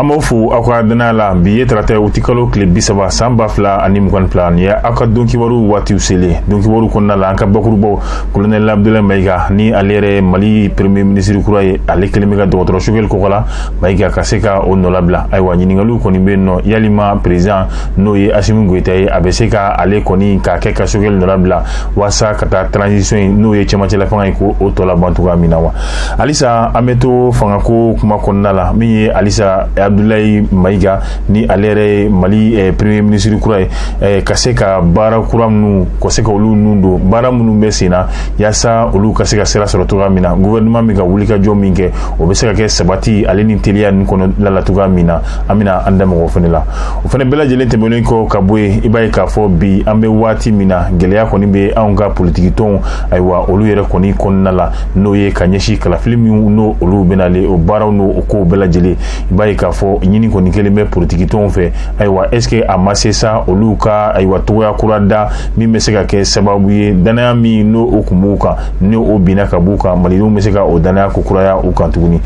an b'aw fo aw ka danaya la bi ye tarata wutikalo tile bi saba san ba fila ani mugan ni fila nin ye aw ka don kibaru waatiw selen don kibaru kɔnɔna la an ka bakurubaw kolonɛli abudulayi mayiga ni ale yɛrɛ mali premier ministre kura ye ale kelen bɛ ka dɔgɔtɔrɔ sogɛli kɔkɔla mayiga ka se ka o nɔlabila ayiwa ɲiningaliw kɔni bɛ yen nɔ yalima perezidan n'o ye asimi goyita ye a bɛ se ka ale kɔni k'a kɛ ka sogɛli nɔlabila walasa ka taa transition in n'o ye cɛmancɛla fanga ye ka o tɔ laban cogoya min na wa halisa an bɛ to fangako kuma kɔnɔna la min ye halisa abdulayi mayiga ni ale yɛrɛ ye mali eh, premier ministre kura ye eh, ka se ka baara kura minnu ka se ka olu nun don baara minnu bɛ sen na yaasa olu ka se ka sira sɔrɔ cogoya min na gouvernement bɛ ka wulikajɔ min kɛ o bɛ se ka kɛ sabati ale ni teliya ninnu kɔnɔna la cogoya min na an bɛna an da maga o fana la o fana bɛɛ lajɛlen tɛmɛnen kɔ ka bɔ yen i b'a ye k'a fɔ bi an bɛ waati min na gɛlɛya kɔni bɛ anw ka politiki tɔnw ayiwa olu yɛrɛ kɔni kɔnɔna la n'o ye ka ɲɛsin kalafili minnu n'o olu bɛnalen o baaraw n'o o kow bɛɛ lajɛlen i b'a ye k'a fɔ ɲini kɔni kɛlen bɛ politiki tɔnw fɛ ayiwa est ce que a ma se sa olu ka ayiwa cogoya kura da min bɛ se ka kɛ sababu ye danaya min n'o o kun b'u kan ni o binna ka b'u kan malidenw bɛ se ka o danaya k'o kuraya u kan tuguni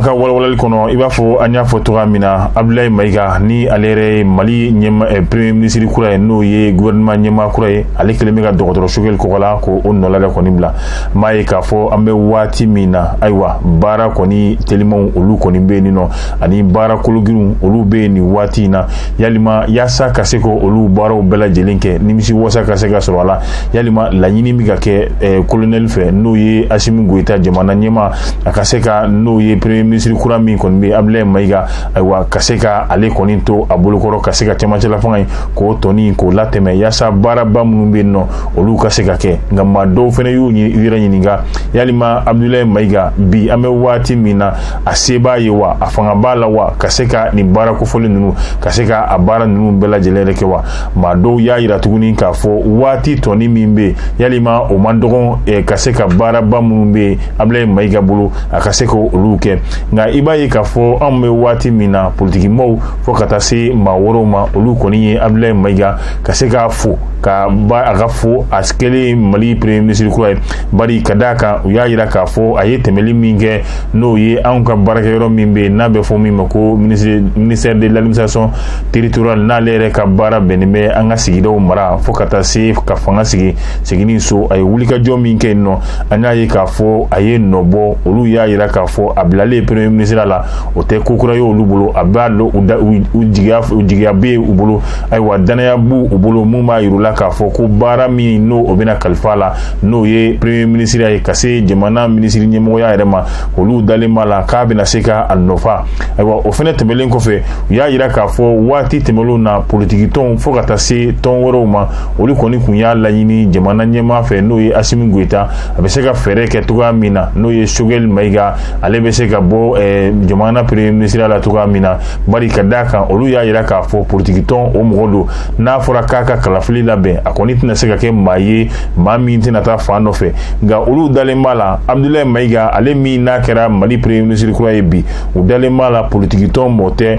an ka walawalali kɔnɔ i b'a fɔ an y'a fɔ cogoya min na abdulayi mayiga ni ale yɛrɛ ye mali ɲɛma eh, premier ministre kura ye n'o ye gouvernement ɲɛmaa kura ye ale kelen bɛ ka dɔgɔtɔrɔ sogɛli kɔgɔla ka o nɔla de kɔni bila m'a ye k'a fɔ an bɛ waati min na ayiwa baara kɔni telimanw olu kɔni bɛ yen nɔ ani baara kologirinw olu bɛ yen nin waati in na yalima yaasa ka se ka olu baaraw bɛɛ lajɛlen kɛ nimisiwasa ka se ka sɔrɔ a la yalima laɲini bɛ ka kɛ eh, kolonɛli fɛ n'o ye asimi goyita jamana ɲɛmaa a ka se ka n'o ye premier ministre kura min kɔni bɛ abulayi mayiga ayiwa ka se ka ale kɔni to a bolokɔrɔ ka se ka cɛmancɛlafanga in k'o tɔnin k'o latɛmɛ yaasa baaraba minnu bɛ yen nɔ olu ka se ka kɛ nka maa dɔw fana y'u yɛrɛ ɲininka yalima abudulayi mayiga bi an bɛ waati min na a se b'a ye wa a fanga b'a la wa ka se ka nin baara kofɔlen ninnu ka se ka a baara ninnu bɛɛ lajɛlen yɛrɛ kɛ wa maa dɔw y'a yira tuguni k'a fɔ waati tɔnin min bɛ yalima o man dɔgɔn eh, ka se ka baaraba minnu bɛ abudulayi mayiga bolo a ka se ka olu kɛ nka i b'a ye k'a fɔ anw bɛ waati min na politikimɔgɔw fo ka taa se maa wɛrɛw ma olu kɔni ye abudulayi mayiga ka se k'a fo ka ba a ka fo a kɛlen mali premier ministre kura ye bari ka d'a kan u y'a yira k'a fɔ a ye tɛmɛli min kɛ n'o ye anw ka baarakɛyɔrɔ min bɛ yen n'a bɛ fɔ min ma ko ministère de l'administration territoriale n'ale yɛrɛ ka baara bɛnnen bɛ an ka sigidaw mara fo ka taa se ka fanga sigi seginni so a ye wulikajɔ min kɛ yen nɔ an y'a ye k'a fɔ a ye nɔ bɔ olu y'a yira k'a fɔ a bilalen premier ministre la o tɛ ko kura ye olu bolo a b'a dɔn u jigiya bɛ yen u bolo ayiwa dannaya b'u u bolo mun b'a yir'u la k'a fɔ ko baara min n'o o bɛna kalifa a la n'o ye premier minisiriya ye ka se jamana minisiri ɲɛmɔgɔya yɛrɛ ma olu dalen b'a la k'a bɛna se ka a nɔfa ayiwa o fɛnɛ tɛmɛlen kɔfɛ u y'a yira k'a fɔ waati tɛmɛlenw na politikitɔnw fo ka taa se tɔn wɛrɛw ma olu kɔni kun y'a laɲini jamana ɲɛmaa fɛ n'o ye asimi goyita a bɛ se ka fɛɛrɛ kɛ cogoya min na n'o ye sogɛli mayiga ale bɛ se ka bɔ jamana premier minisiriya la cogoya min na bari ka d'a kan olu y'a yira k'a fɔ politikitɔn o mɔgɔ don n'a fɔra k'a ka kalafili labɛn a kɔni tɛna se ka kɛ maa ye maa min tɛna taa fan nɔfɛ nka olu dalen b'a la abudulayi mayiga ale min n'a kɛra mali premier ministre kura ye bi u dalen b'a la politikitɔn mɔɔ tɛ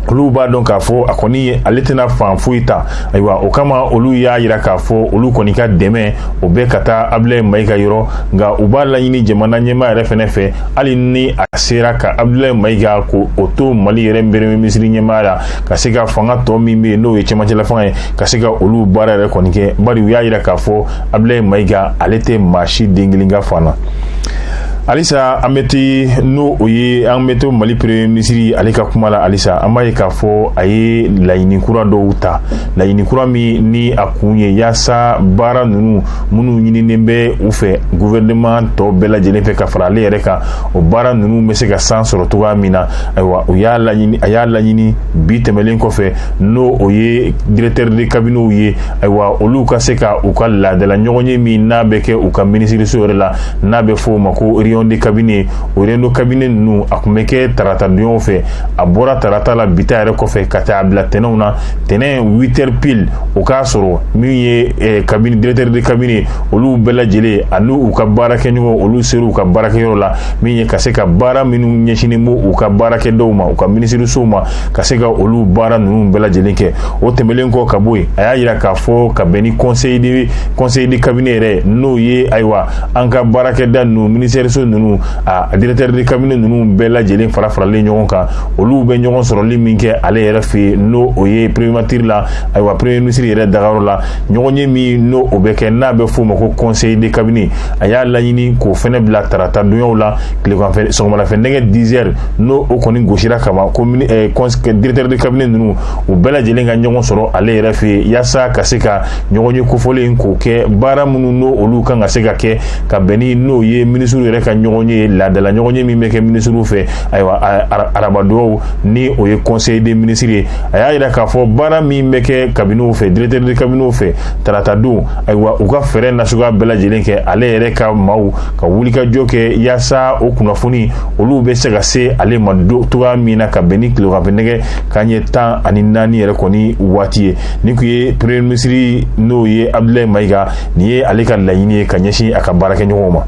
olu b'a dɔn k'a fɔ a kɔni ale tɛna fan foyi ta ayiwa o kama olu y'a yira k'a fɔ olu kɔni ka dɛmɛ o bɛ ka taa abulayi mayiga yɔrɔ nka u b'a laɲini jamana ɲɛmaa yɛrɛ fɛnɛ fɛ hali ni a sera ka abdulayi mayiga k'o o to mali yɛrɛ premier minisiri ɲɛmaaya la ka se ka fanga tɔ min bɛ yen n'o ye cɛmancɛla fanga ye ka se ka olu baara yɛrɛ kɔni kɛ bari u y'a yira k'a fɔ abdulayi mayiga ale tɛ maa si den kelen ka fan na halisa an bɛ te n'o o ye an bɛ to mali premier minisiri ale ka kuma la halisa an b'a ye k'a fɔ a ye laɲini kura dɔw ta laɲini kura min ni a kun ye yaasa baara ninnu minnu ɲininen bɛ u fɛ gouvernement tɔw bɛɛ lajɛlen fɛ ka fara ale yɛrɛ kan o baara ninnu bɛ se ka san sɔrɔ cogoya min na ayiwa u y'a laɲini a y'a laɲini bi tɛmɛlen kɔfɛ n'o o ye directeur de cabinetw ye ayiwa olu ka se ka u ka laadala ɲɔgɔnye min n'a bɛ kɛ u ka minisiriso yɛrɛ la n'a bɛ fɔ o ma ko réunion de cabinet o réunion de cabinet ninnu a kun bɛ kɛ tarata donyaw fɛ a bɔra tarata la bi ta yɛrɛ kɔfɛ ka taa a bila tɛnɛnw na tɛnɛn huit heures pile o k'a sɔrɔ min ye eh, cabinet directeur de cabinet olu bɛɛ lajɛlen ani u ka baarakɛɲɔgɔn olu sera u ka baarakɛyɔrɔ la min ye ka se ka baara minnu ɲɛsinnen bɛ u ka baarakɛdaw ma u ka minisirisow ma ka se ka olu baara ninnu bɛɛ lajɛlen kɛ o tɛmɛlen kɔ ka bɔ yen a y'a yira k'a fɔ ka bɛn ni conseil de cabinet yɛrɛ n'o ye ayiwa an ka baarakɛda ninnu minisiriso ninnu a directeur de cabinet ninnu bɛɛ lajɛlen fara faralen ɲɔgɔn kan olu bɛ ɲɔgɔn sɔrɔli min kɛ ale yɛrɛ fɛ yen n'o ye primatiri la ayiwa premier minisiri yɛrɛ dagayɔrɔ la ɲɔgɔnye min n'o bɛ kɛ n'a bɛ f'o ma ko conseil de cabinet a y'a laɲini k'o fɛnɛ bila tarata donyaw la tileganfɛ sɔgɔmadafɛ nɛgɛ 10 heures n'o kɔni gosira kama ko eh, directeur de cabinet ninnu u bɛɛ lajɛlen ka ɲɔgɔn sɔrɔ ale yɛrɛ fɛ yen yaasa ka se ka ɲɔgɔnye kofɔlen k'o kɛ baara minnu n'olu kan ka se ka kɛ ka bɛn ni n'o ye minisiriw yɛrɛ ka ɲɔgɔnye laadala ɲɔgɔnye min bɛ kɛ minisiriw fɛ ayiwa arabadonw ni o ye conseil des ministres ye a y'a yira k'a fɔ baara min bɛ kɛ cabinetw fɛ directeur de cabinetw fɛ tarata don ayiwa u ka fɛɛrɛ nasuguya bɛɛ lajɛlen kɛ ale yɛrɛ ka maaw ka wulikajɔ kɛ yaasa o kunnafoni olu bɛ se ka se ale ma cogoya min na ka bɛn ni tileganfɛ nɛgɛ kanɲɛ tan ani naani yɛrɛ kɔni waati ye nin kun ye premier ministre n'o ye abudulayi mayiga nin ye ale ka laɲini ye ka ɲɛsin a ka baarakɛɲɔgɔnw ma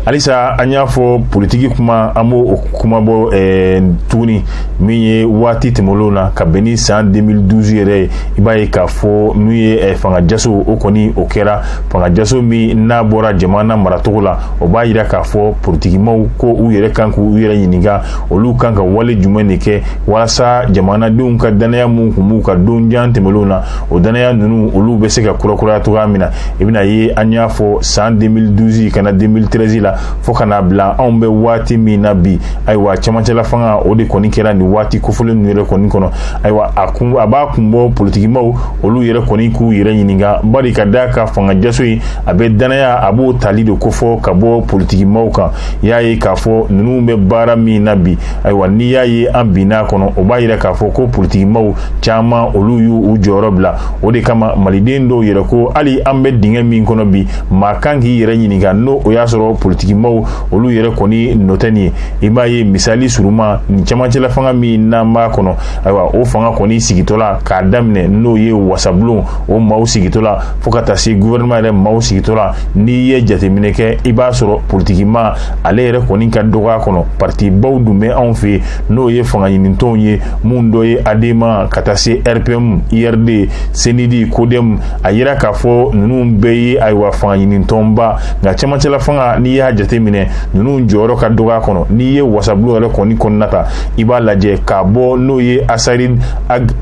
halisa an y'a fɔ politiki kuma an b'o kuma bɔ eh, tuguni min ye waati tɛmɛlenw na ka bɛn ni san 2012 yɛrɛ ye i b'a ye k'a fɔ n'u ye eh, fanga jaso o kɔni o kɛra fanga jaso min n'a bɔra jamana maracogo la o b'a yira k'a fɔ politikimaw ko u yɛrɛ kan k'u yɛrɛ ɲininka olu kan ka wale jumɛn de kɛ walasa jamanadenw ka dannaya min kun b'u kan don jan tɛmɛlenw na o dannaya ninnu olu bɛ se ka kurakuraya cogoya min na i bɛna ye an y'a fɔ san 2012 ka na 2013 la fo ka n'a bila anw bɛ waati min na bi ayiwa cɛmancɛla fanga o de kɔni kɛra nin waati kofɔlen ninnu yɛrɛ kɔni kɔnɔ ayiwa a kun a b'a kun bɔ politikimaw olu yɛrɛ kɔni k'u yɛrɛ ɲininka bari ka d'a kan fanga jaso in a bɛ dannaya a b'o tali de kofɔ ka bɔ politikimaw kan i y'a ye k'a fɔ ninnu bɛ baara min na bi ayiwa n'i y'a ye an binna a kɔnɔ o b'a yira k'a fɔ ko politikimaw caman olu y'u jɔyɔrɔ bila o de kama maliden dɔw yɛrɛ ko hali an bɛ dingɛ min kɔnɔ bi maa kan k'i yɛrɛ ɲininka n'o y'a sɔrɔ politikimaw olu yɛrɛ kɔni nɔ tɛ nin ye i b'a ye misali suruman nin camancɛla fanga min n'an b'a kɔnɔ ayiwa o fanga kɔni sigitɔ la k'a daminɛ n'o ye wasabulon o maaw sigitɔ la fo ka taa se guvɛrɛnɛman yɛrɛ maaw sigitɔ la n'i ye jateminɛ kɛ i b'a sɔrɔ politikima ale yɛrɛ kɔni ka dɔgɔ a kɔnɔ partibaw dun bɛ anw fɛ yen n'o ye fanga ɲinitɔnw ye minnu dɔ ye adema ka taa se rpm urd senidi kodɛmu a yira k'a fɔ ninnu bɛɛ ye ayiwa fanga ɲinitɔnba nka cɛmancɛla fanga n'i y'a jateminɛ ninnu jɔyɔrɔ ka dɔgɔ a kɔnɔ n'i ye wasabulon yɛrɛ kɔni kɔnɔna ta i b'a lajɛ k'a bɔ n'o ye asarid ag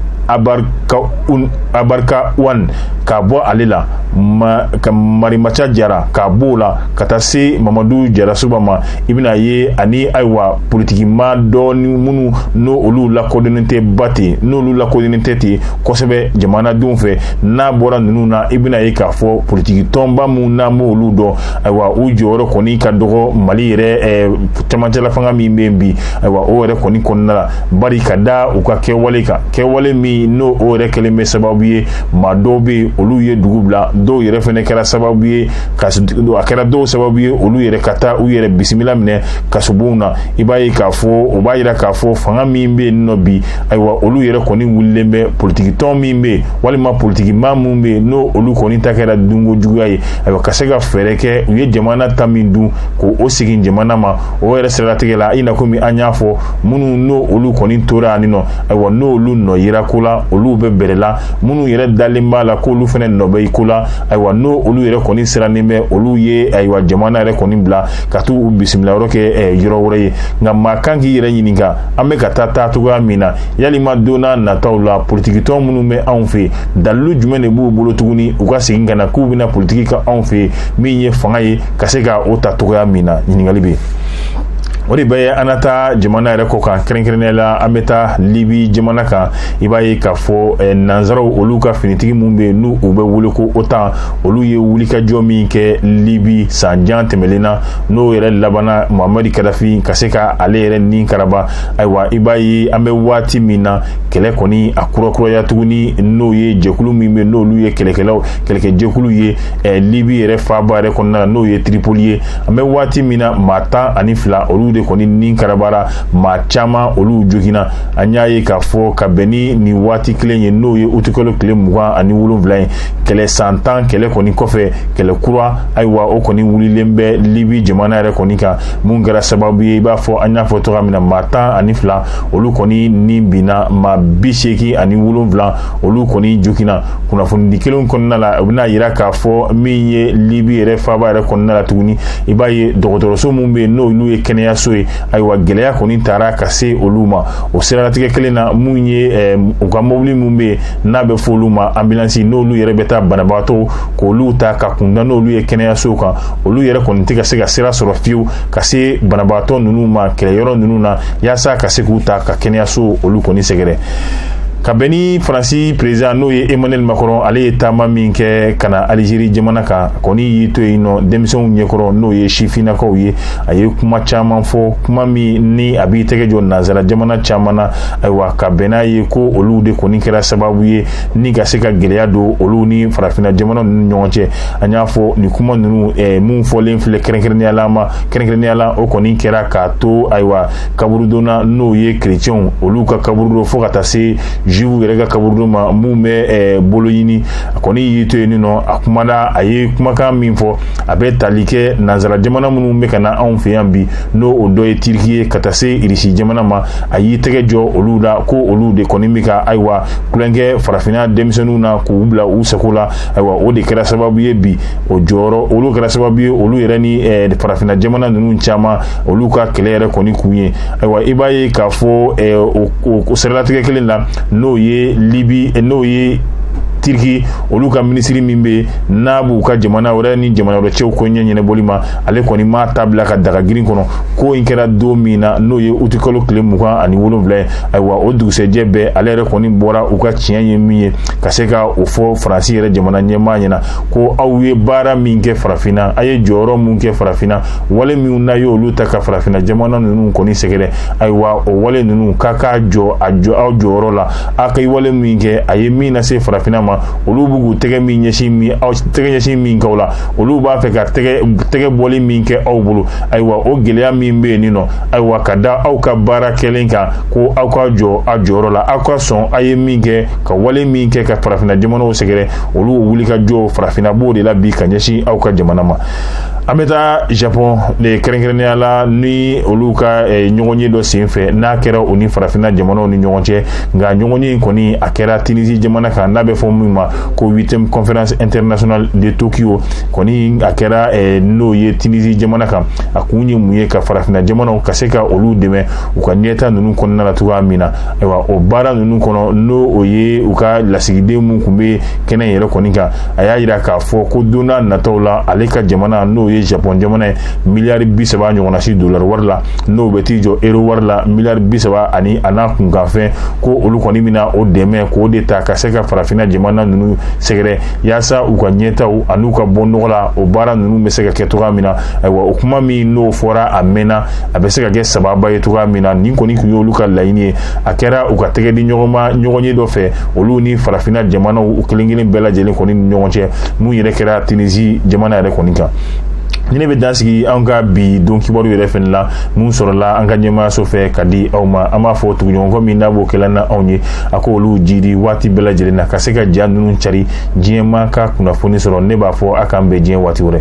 imbarikawan k'a bɔ ale la ma, ka marimanca jara k'a b'o la ka taa se mamadu jarasuba ma i bɛna ye ani ayiwa politikimaa dɔɔni minnu n'o olu lakodɔnnen tɛ ba ten n'olu lakodɔnnen tɛ ten kosɛbɛ jamanadenw fɛ n'a bɔra ninnu na i bɛna ye k'a fɔ politikitɔnba minnu n'an b'olu dɔn ayiwa u jɔyɔrɔ kɔni ka dɔgɔ mali yɛrɛ eh, cɛmancɛlafanga min bɛ yen bi ayiwa o yɛrɛ kɔni kɔnɔna la bari ka da u ka kɛwale kan kɛwale min n'o o yɛrɛ kɛlen bɛ sababu ye maa dɔw bɛ yen olu ye dugu bila dɔw yɛrɛ fana kɛra sababu ye ka a kɛra dɔw sababu ye olu yɛrɛ ka taa u yɛrɛ bisimila minɛ kasobonw na i b'a ye k'a fɔ o b'a yira k'a fɔ fanga min bɛ yen nɔ bi ayiwa olu yɛrɛ kɔni wulilen bɛ politikitɔn min bɛ yen walima politikimaa min bɛ yen n'o olu kɔni ta kɛra dunko juguya ye ayiwa ka se ka fɛɛrɛ kɛ u ye jamana ta min dun k'o segin jamana ma o yɛrɛ siratigɛ la i na komi an y'a fɔ minnu n'o olu kɔni tora yan nɔ ayiwa n'olu nɔ yira ko la olu bɛ bɛrɛ la minnu yɛrɛ dalen b'a la k'olu fana nɔ bɛ i ko la ayiwa n'o olu yɛrɛ kɔni sirannen bɛ olu ye ayiwa jamana yɛrɛ kɔni bila ka t'u u bisimilayɔrɔ kɛ eh, yɔrɔ wɛrɛ ye nka maa kan k'i yɛrɛ ɲininka an bɛ ka taa taa cogoya min na yalima don nataw la politikitɔn minnu bɛ anw fɛ dalilu jumɛn de b'u bolo tuguni u ka segin ka na k'u bɛna politiki kɛ anw fɛ min ye fanga ye ka se ka o ta cogoya min na ɲininkali bɛ yen o de bɛ an na taa jamana yɛrɛ kɔkan kɛrɛnkɛrɛnnenya la an bɛ taa libi jamana kan i b'a ye k'a fɔ eh, nanzaraw olu ka finitigi minnu bɛ yen n'u u bɛ wele ko otan olu ye wulikajɔ min kɛ libi san jan tɛmɛlen na n'o yɛrɛ labanna muhamadi kadafi ka se ka ale yɛrɛ ni karaba ayiwa i b'a ye an bɛ waati min na kɛlɛ kɔni a kurakuraya tuguni n'o ye jɛkulu min bɛ n'olu ye kɛlɛkɛlaw kɛlɛkɛjɛkulu ye eh, libi yɛrɛ faaba yɛrɛ kɔnɔna na n'o ye tripoli ye an bɛ waati min na maa tan ani fila olu de kɔni ni karabara maa caman olu joginna an y'a ye k'a fɔ ka bɛn ni nin waati kelen ye n'o ye utikalo tile mugan ani wolonwula ye kɛlɛ san tan kɛlɛ kɔni kɔfɛ kɛlɛ kura ayiwa o kɔni wulilen bɛ libi jamana yɛrɛ kɔni kan mun kɛra sababu ye i b'a fɔ an y'a fɔ cogoya min na maa tan ani fila olu kɔni ni binna maa bi seegin ani wolonwula olu kɔni joginna kunnafonidi kelen kɔnɔna la u bɛn'a yira k'a fɔ min ye libi yɛrɛ faaba yɛrɛ kɔnɔna la tuguni i b'a ye dɔgɔtɔrɔso minnu bɛ yen n'olu ye kɛnɛyaso ye ayiwa gɛlɛya kɔni taara ka se olu ma o siralatigɛ kelen na minnu ye eh, u ka mɔbili minnu bɛ n'a bɛ fɔ olu ma ambulansi n'olu yɛrɛ bɛ taa banabagatɔw k'olu ta ka kunda n'olu ye kɛnɛyasow kan olu yɛrɛ kɔni tɛ ka se ka sira sɔrɔ fiyewu ka se banabagatɔ ninnu ma kɛlɛyɔrɔ ninnu na yaasa ka se k'u ta ka kɛnɛyaso olu kɔni sɛgɛrɛ ka bɛn ni faransi perezidan n'o ye emmanuel macron ale ye taama min kɛ ka na alizeri jamana kan kɔni y'i to yen nɔ denmisɛnw ɲɛkɔrɔ n'o ye sifinnakaw ye a ye kuma caman fɔ kuma min ni a b'i tɛgɛ jɔ nanzara jamana caman na ayiwa ka bɛn n'a ye ko olu de kɔni kɛra sababu ye ni ka se ka gɛlɛya don olu ni farafinna jamana ninnu ɲɔgɔn cɛ an y'a fɔ nin kuma ninnu eh, mun fɔlen filɛ kɛrɛnkɛrɛnnenya la ma kɛrɛnkɛrɛnnenya la o kɔni kɛra k'a to ayiwa kaburudonna n'o ye kerecɛnw olu ka kaburudon fo ka taa se juifw yɛrɛ ka kaburudon ma mun bɛ eh, bologhine a kɔni y'i to yen nin nɔ a kumana a ye kumakan min fɔ a bɛ tali kɛ nanzara jamana minnu bɛ ka na anw fɛ yan bi n'o o dɔ ye tiriki ye ka taa se irisi jamana ma a y'i tɛgɛ jɔ olu la ko olu de kɔni bɛ ka ayiwa tulonkɛ farafinna denmisɛnninw na k'u bila u sago la ayiwa o de kɛra sababu ye bi o jɔyɔrɔ olu kɛra sababu ye olu yɛrɛ ni eh, farafinna jamana ninnu caman olu ka kɛlɛ yɛrɛ kɔni kun ye ayiwa i b'a ye k'a fɔ eh, o siralatigɛ kelen na n'o ye libi eh, n'o ye tiriki olu ka minisiri min bɛ n'a b'u ka jamana wɛrɛ ni jamana wɛrɛ cɛw koɲɛ ɲɛnɛbɔli ma ale kɔni m'a ta bila ka daga girin kɔnɔ ko in kɛra don min na n'o ye utikalo tile mugan ani wolonwula ye ayiwa o dugusɛjɛ bɛɛ ale yɛrɛ kɔni bɔra u ka tiɲɛ ye min ye ka se ka o fɔ faransi yɛrɛ jamana ɲɛmaa ɲɛ na ko aw ye baara min kɛ farafinna a ye jɔyɔrɔ min kɛ farafinna wale minnu n'a ye olu ta ka farafinna jamana ninnu kɔni sɛgɛrɛ ayiwa o wale ninnu k'a k'a jɔ a jɔ aw jɔyɔrɔ la a ka wale min kɛ a ye min lase farafinna ma olu b'u k'u tɛgɛ min ɲɛsin min aw tɛgɛ ɲɛsin min k'aw la olu b'a fɛ ka tɛgɛ bɔli min kɛ aw bolo ayiwa o gɛlɛya min bɛ yen nin nɔ ayiwa ka da aw ka baara kɛlen kan ko aw ka jɔ a jɔyɔrɔ la aw ka sɔn a ye min kɛ ka wale min kɛ ka farafinna jamanaw sɛgɛrɛ olu wulikajɔ farafinna b'o de la bi ka ɲɛsin aw ka jamana ma an bɛ taa japon de kɛrɛnkɛrɛnnenya la ni olu ka eh, ɲɔgɔnye dɔ senfɛ n'a kɛra u ni farafinna jamanaw ni ɲɔgɔn cɛ nka ɲɔgɔnye in kɔni a kɛra tunisi jamana kan n'a bɛ fɔ min ma ko huitième conférence internationale de tokyo kɔni a kɛra eh, n'o ye tunisi jamana kan a kun ye mun ye ka farafinna jamanaw ka se ka olu dɛmɛ u ka ɲɛtaa ninnu kɔnɔna la cogoya min na ayiwa o baara ninnu kɔnɔ n'o o ye u ka lasigiden minnu tun bɛ kɛnɛ yɛrɛ kɔni kan a y'a jira k'a fɔ ko don n'a nataw la ale ka jamana n'o ye japɔn jamana ye miliyari bi saba ɲɔgɔnna si dolari wari la n'o bɛ t'i jɔ ero wari la miliyari bi saba ani a n'a kunkanfɛn ko olu kɔni bɛna o dɛmɛ k'o de ta ka se ka farafinna jamana ninnu sɛgɛrɛ yaasa u ka ɲɛtaaw an'u ka bɔnɔgɔla o baara ninnu bɛ se ka kɛ cogoya min na ayiwa o kuma min n'o fɔra a mɛnna a bɛ se ka kɛ sababu ye cogoya min na nin kɔni tun y'olu ka laɲini ye a kɛra u ka tɛgɛ di ɲɔgɔnma ɲɔgɔnye dɔ fɛ olu ni farafinna jamanaw u kelen kelen bɛɛ lajɛlen kɔni ni ɲɔgɔn cɛ mun yɛrɛ kɛra tunisi jamana yɛrɛ kɔni kan ni ne bɛ dan sigi an ka bi don kibaru yɛrɛ fɛnɛ la mun sɔrɔla an ka ɲɛmaayaso fɛ ka di aw ma an b'a fɔ tuguɲɔgɔnkɔ min n'a b'o kɛla na anw ye a k'olu jiidi waati bɛɛ lajɛlen na ka se ka ja ninnu cari diɲɛmaa ka kunnafoni sɔrɔ ne b'a fɔ a k'an bɛn diɲɛ waati wɛrɛ